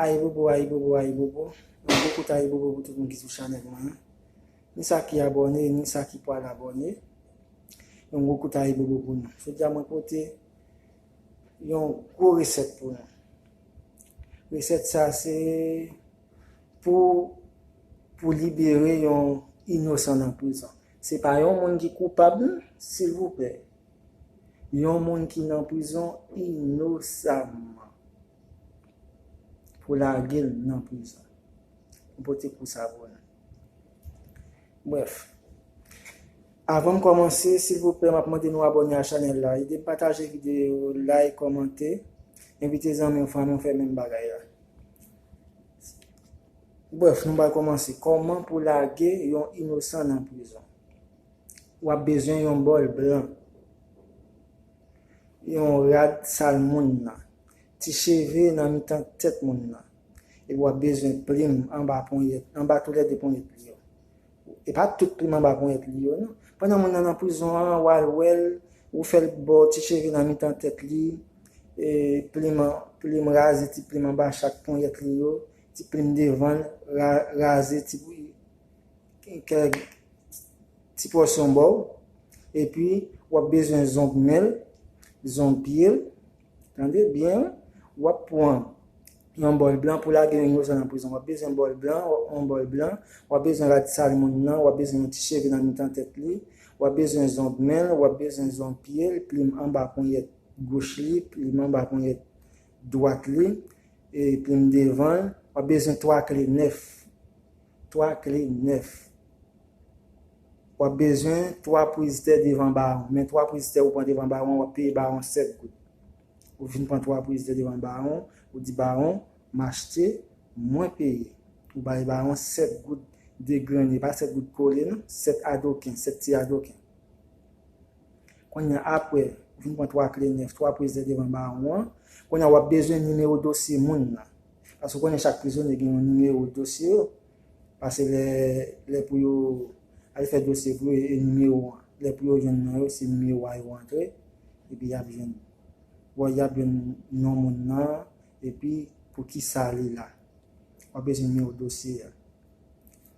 Ayibobo ayibobo ayibobo yon gwo kout ayibobo pou tout moun ki sou chanèl mwen an ni sa ki abòne ni sa ki pwal abòne yon gwo kout ayibobo pou nou jodi a mwen pote yon gwo resèt pou nou resèt sa se pou pou libere yon inosan nan prizon se pa yon moun ki koupab nan silvouplè yon moun ki nan prizon inosamman. Pou lagel nan prizon. M pote kou sa pou nou. Bref. Avanm kòmanse silvouplè map mande nou abòne a chanèl la. Edem pataje videyo yo, like, kòmante. Envite zanmiw, fanmiw fè menm bagay la. Bref nou pral kòmanse. Kòman pou lage yon inosan nan prizon. Wap bezwen yon bòl blan. Yon rad sal moun nan. Ti cheve nan mitan tèt moun nan. Epi wap bezwen plim anba ponyèt, anba tou lè 2 ponyèt li yo. E pa tout plim anba ponyèt li yo non. Pandan moun nan nan prizon an, wal wèl, ou fèl bo ti cheve nan mitan tèt li, e plim, plim raze ti plim anba chak ponyèt li yo, ti plim devan'l, raze ti kèk ti pòsyon bòw. Epi wap bezwen zong men'l, zong pye'l, Tande byen wi, wap pwan yon bòl blan pou lage yon inozan nan prizon, wap bezwen bòl blan, wap pwan yon bòl blan, wap bezwen rad sal moun nan, wap bezwen yon ti cheve nan mitan tèt li, wap bezwen zong men l, wap bezwen zong pye l, plim anba ponyèt goch li, plim anba ponyèt dwat li, e plim devan l, wap bezwen 3 kle nèf. 3 kle nèf. W ap bezwen 3 priz tè devan bawon. Men 3 priz tè ou pran devan bawon an, w ap peye bawon 7 goud. Ou vin pran 3 priz tè devan bawon, ou di bawon, m achte, mwen peye. Ou bay bawon 7 goud degrenne, pa 7 goud kole non, 7 adoken, 7 ti adoken. Kounye a, apre, ou vin pran 3 kle nèf, 3 priz tè devan bawon an. Kounye a, w ap bezwen nimewo dosye moun nan. Paske ou konnen chak prizonye gen yon nimewo dosye yo, pase lè lè pou yo al fè dosye pou yo e nimewo an, lè pou yo jwenn non yo se nimewo a yo antre epi y ap jwenn bon y ap jwenn non moun nan epi pou kisa li la. W ap bezwen nimewo dosye a.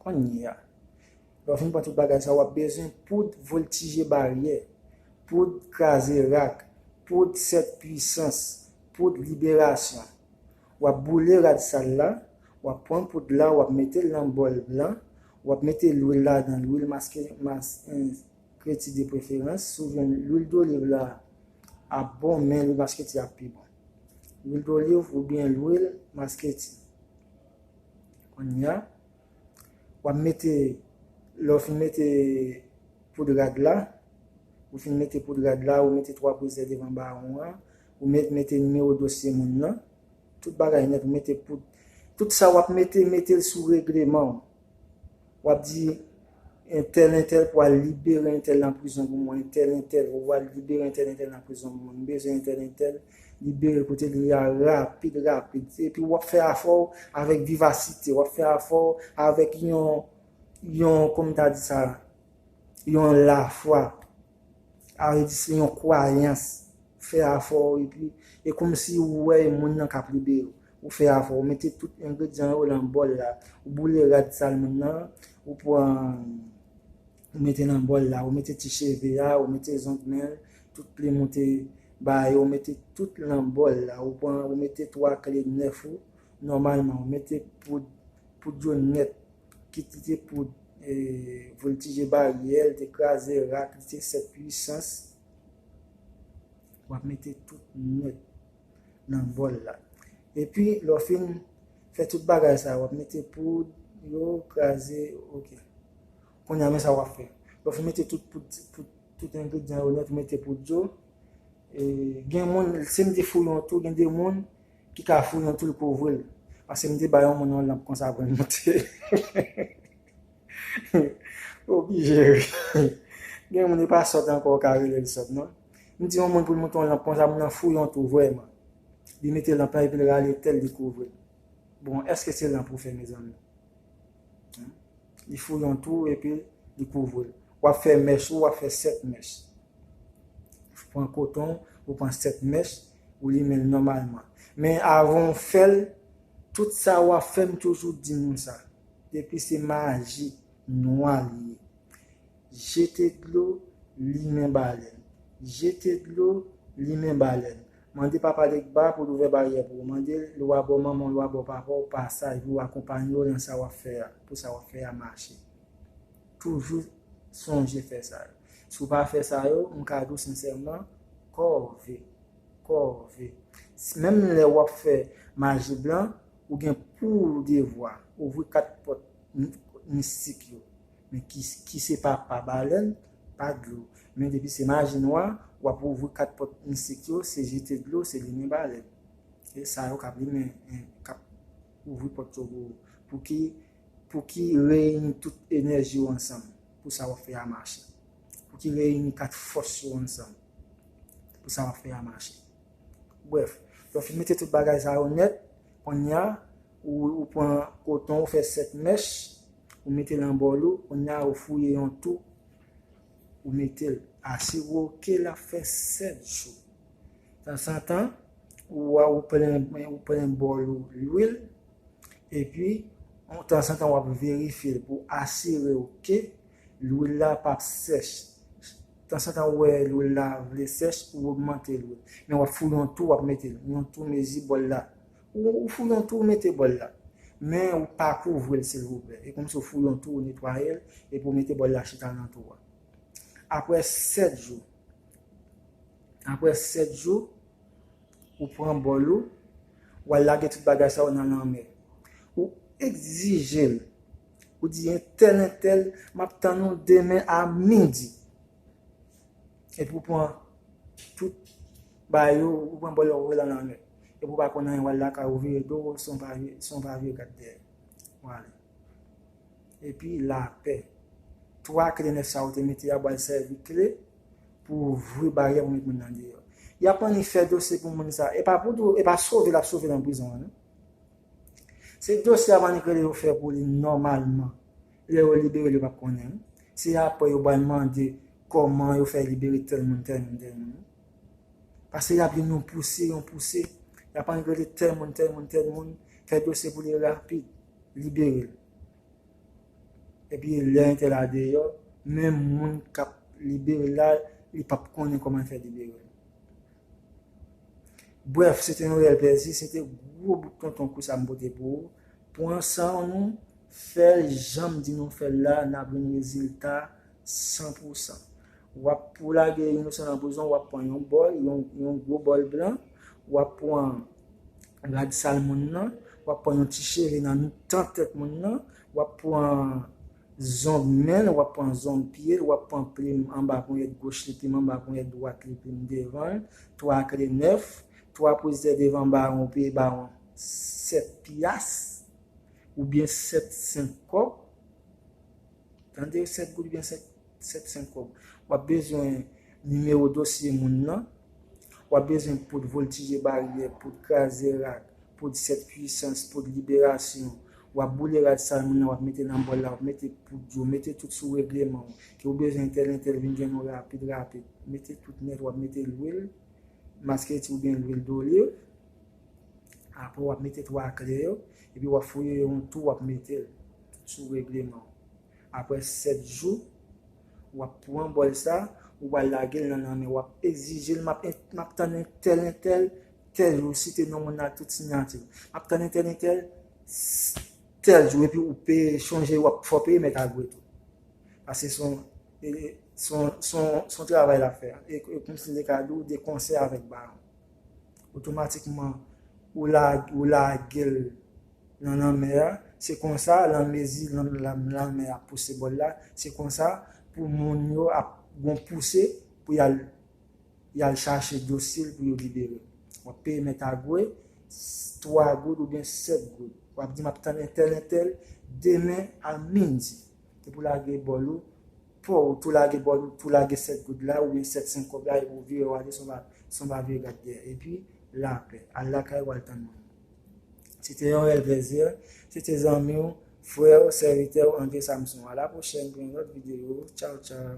Konnya. Lè w fin pran tout bagay sa yo, w ap bezwen poud voltije baryè, poud kraze rak, poud sèt pwisans, poud liberasyon. W ap boule rad sal la, w ap pran poud la, w ap mete l nan bòl blan, w ap mete lwil ladan l, lwil maskreti depreferans, si w jwenn lwil doliv la ap bon men lwil maskreti ap pi bon. Lwil doliv oubyen lwil maskreti. Kounya. Wap mete lè w fin mete poud rad la ou fin mete poud rad la ou mete 3 bouze devan bawon an ou met mete nimewo dosye moun nan tout bagay nèt ou mete poud tout sa wap mete mete l sou regleman w wap di Entèl entèl pou al libere entèl nan prizon pou mwen entèl entèl pou al libere entèl entèl nan prizon pou mwen m bezwen entèl entèl libere kote li ya rapid rapid epi wap fè afè w avèk vivasite wap fè afè w avèk yon yon kòm ta di sa yon lafwa. Arete se yon kwayans, ou fè afò w epi e kòmsi ou wè e moun nan k ap ride yo. Ou fè afò, ou mete tout engredyan yo lan bòl la, ou boule rad sal moun nan, ou pran ou mete lan bòl la, ou mete ti cheve a, ou mete zong men l, tout plim ou te ba yo, ou mete tout lan bòl la, ou pran ou mete twa kle nèf ou, nòmalman ou mete poud, poud yo nèt, ki t te pou voltije baryè, li te kraze rak, li te sèt pwisans, wap mete tout nwèt nan bòl la. Epi lè w fin fè tout bagay sa, wap mete poud yo, kraze, ok. Kounya men sa wap fè, lè w fin mete tout poud, tout engredyan yo nèt, ou mete poud yo, gen moun, se m te fouye yon tou, gen de moun Ki ka founi yon toul pou ouvri l. Pase m te bay yon moun yon lanp konsa pou l moute. Ou oblije ri. Gen moun e pa sòt ankò ou ka rele l sòt non. M di yon moun pou l moute yon lanp konsa moun nan fouye yon tou vrèman. Li mete lanp lan epi l rale tèl li kouvri l. Bon èske se lanp ou fè mezanmi? Li fouye yon twou epi li kouvri l. W ap fè mèch ou, w ap fè sèt mèch. Ou pran koton w, ou pran sèt mèch, ou limen l nòmalman. Men avan w fè l, tout sa w ap fè m toujou di nou sa, depi se maji nwa li ye. Jete dlo, limen balèn. Jete dlo, limen balèn. Mande Papa Legba pou l ouvè baryè pou ou. Mande l lwa bò manman w, lwa bò papa w pasaj pou w akonpanye yo nan sa w ap fè a, pou sa w ap fè a mache. Toujou sonje fè sa yo. Si w pa fè sa yo, m ka di w sensèman, kòve. Kòve. Menm lè w ap fè maji blan, ou gen pou w devwa ouvri kat pòt mistik yo. Men ki se papa balèn pa dlo. Men depi se maji nwa, w ap ouvri kat pòt mistik yo, se jete dlo, se limen balèn. E sa yo k ap limen, k ap ouvri pòt yo pou ou. Pou ki reyini tout enèji yo ansanm pou sa w ap fè a mache. Pou ki reyini kat fòs yo ansanm pou sa w ap fè a mache. Brèf, lè w fin mete tout bagay sa yo nèt, konnya Ou pran koton ou fè 7 mèch, ou mete l an bòl ou, konnya ou fouye yon tou ou mete l. Asire w ke l ap fè 7 jou. Tansantan, ou plen bòl ou lwil, epi tansantan w ap verifye l pou asire w ke lwil la pa p sèch. Tansantan ou wè lwil la vle sèch, ou ogmante lwil. Men w ap fouye yon tou w ap mete l. Yon tou mezi bòl la. Ou fouyon tou ou mete bòl la. Men ou pa kouvri l silvouplè. E kòmsi ou fouyon tou ou netwaye l epi ou mete bòl la chita nan tou a. Aprè 7 jou, aprè 7 jou, ou pran bòl ou, ou al lage tout bagay sa yo nan lanmè. Ou egzije l. Ou di entèl entèl, m ap tann ou demen a midi. epi ou pran tout bagay yo ou pran bòlè ou voye lan lanmè epi ou pa konn anyen wal lakay ou vire do ou son pa vye gad dèyè wale epi lapè 3 kle 9 sa ou te mete a bal sèvi kle pou ouvri baryè pou met moun nan deyò yap annik fè dosye pou moun sa e pa pou e pa sove lap sove lan prizon an non se dosye yap annik rele yo fè pou li nòmalman. Lè yo libere l yo pap konnen wi. Se aprè yo pral mande kòman yo fè libere tèl moun tèl moun tèl moun wi. Pase yap jwenn yon pouse yon pouse. Yap annik rele tèl moun tèl moun tèl moun fè dosye pou li rapid libere l. Epi lè entè la deyò menm moun kap libere l la li pap konnen kòman l fè libere l. Brèf se te yon rèl plèzi se te gwo bout tonton kou sa m pote pou ou. Pran sanw nou fèl janm di nou fèl la nap jwenn rezilta san pou san. Wap pou lage inosan nan prizon wap pran yon bòl yon gwo bòl blan wap pran rad sal moun nan wap pran yon ti cheve nan mitan tèt moun nan wap pran zong menl wap pran zong pyel wap pran plim anba ponyèt goch li plim anba ponyèt dwat li plim devanl 3 kle 9 3 pwezè devan bawon pye bawon. 7 pyas oubyen 7 sen kòb, tande 7 goud oubyen 7 sen kòb, w ap bezwen nimewo dosye moun nan, w ap bezwen poud voltije baryè, poud kraze rad, poud 7 pwisans, poud liberasyon, w ap boule rad sa moun nan w ap mete nan bòl la, w ap mete poud yo, mete tout sou regleman w, ke w bezwen entèl entèl vin jwenn ou rapid rapid, mete tout nèt w ap mete lwil maskreti oubyen lwil doliv. Aprè wap mete 3 kle yo epi wap fouye yo yon tou wap metel sou reglemanw aprè 7 jou wap pran bòl sa ou pral lagel nan lanmè wap egzijel map map tann entèl entèl tèl jou ou site non moun nan ak tout sinyatiw map tann entèl entèl tèl jou epi ou peye chonje wap fò peye mèt agwe tou paske son son son travay lap fè e kòmsi li te ka diw de konsè avèk baron. otomatikman ou lage l nan lanmè a, se konsa lan mezi lanmè a pouse bòl la, se konsa pou moun yo ap gon pouse pou y al chache dosil pou yo libere. W ap peye mèt agwe 3 goud oubyen 7 goud. W ap di m ap tann entèl entèl demen a midi. Depi w lage bòl ou, pouw tou lage bon pou lage 7 goud la oubyen 7 sen kob la epi ou vire ou ale san pa vire gad dèyè epi lapè al lakay ou al tann moun se te yon rèl plèzi se te zanmiw frèw sèvitèw André Samson a la pwochèn pou yon lòt videyo tchaw tchaw.